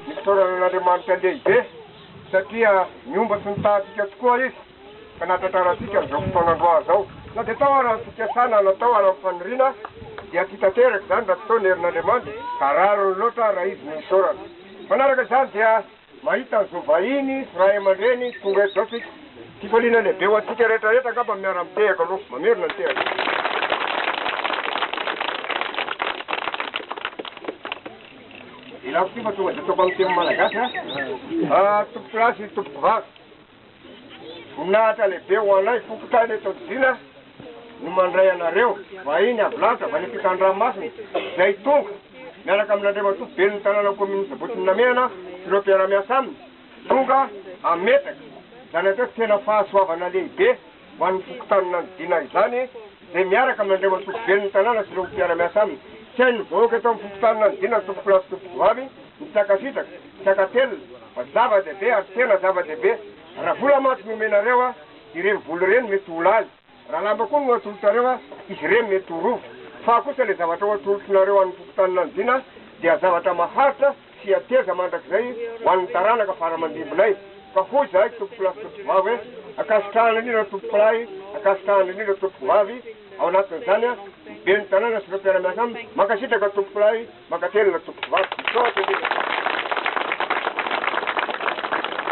Nisaorana an'Andriamanitra lehibe satria niomba sy nitaha antsika tokoa Izy ka nahatratra antsika an'izao fotoana androany izao. Na dia tao ara ny fikasana na tao ara ny faniriana dia tsy tanteraka izany raha tsy tao ny herin'Andriamanitra ka rariny loatra raha Izy no isaorana. Manaraka izany dia mahita ny zo vahiny sy ray aman-dreny tonga eto izao isika. Fifaliana lehibe ho antsika rehetra rehetra angamba miara-mitehaka aloha. Mamerina ny tehaka. Ilako ty fa tonga de ataoko amin'ny teny malagasy a. Ah, tompoko lahy sy tompoko vavy. Voninahitra lehibe ho anay fokontany eto Antsina no mandray anareo vahiny avy lanitra avy any ampitan-dranomasina izay tonga miaraka amin'Andriamatoa Ben'ny tanàna Kaominina Sabotsy Namehana sy ireo mpiara-miasa aminy. Tonga hametraka izany atreto tena fahasoavana lehibe. ho an'ny fokontany nanodidina izany, dia miaraka amin'Andriamatoa Foiben'ny Tanàna sy ireo mpiara-miasa aminy. Tsy hain'ny vahoaka eto amin'ny fokontany nanodidina ny tompokolahy sy tompokovavy ny tsy hankasitraka, tsy hankatelina, fa zava-dehibe ary tena zava-dehibe. Raha vola mantsy no omenareo, ireny vola ireny mety ho lany. Raha lamba koa no atolotrareo, izy ireny mety ho rova. Fa kosa ilay zavatra ho atolotrnareo an'ny fokontany nanodidina dia zavatra maharitra, Tsy hateza mandrakizay ho an'ny taranaka fara aman-dimbinay. Ka hoy izahay, Tompokolahy sy Tompokovavy hoe, Ankasitrahana indrindra Tompokolahy, ankasitrahana indrindra Tompokovavy, ao anatin'izany ny Ben'ny tanàna sy ireo mpiara-miasa aminy, mankasitraka Tompokolahy, mankatelina Tompokovavy. Misaotra indrindra.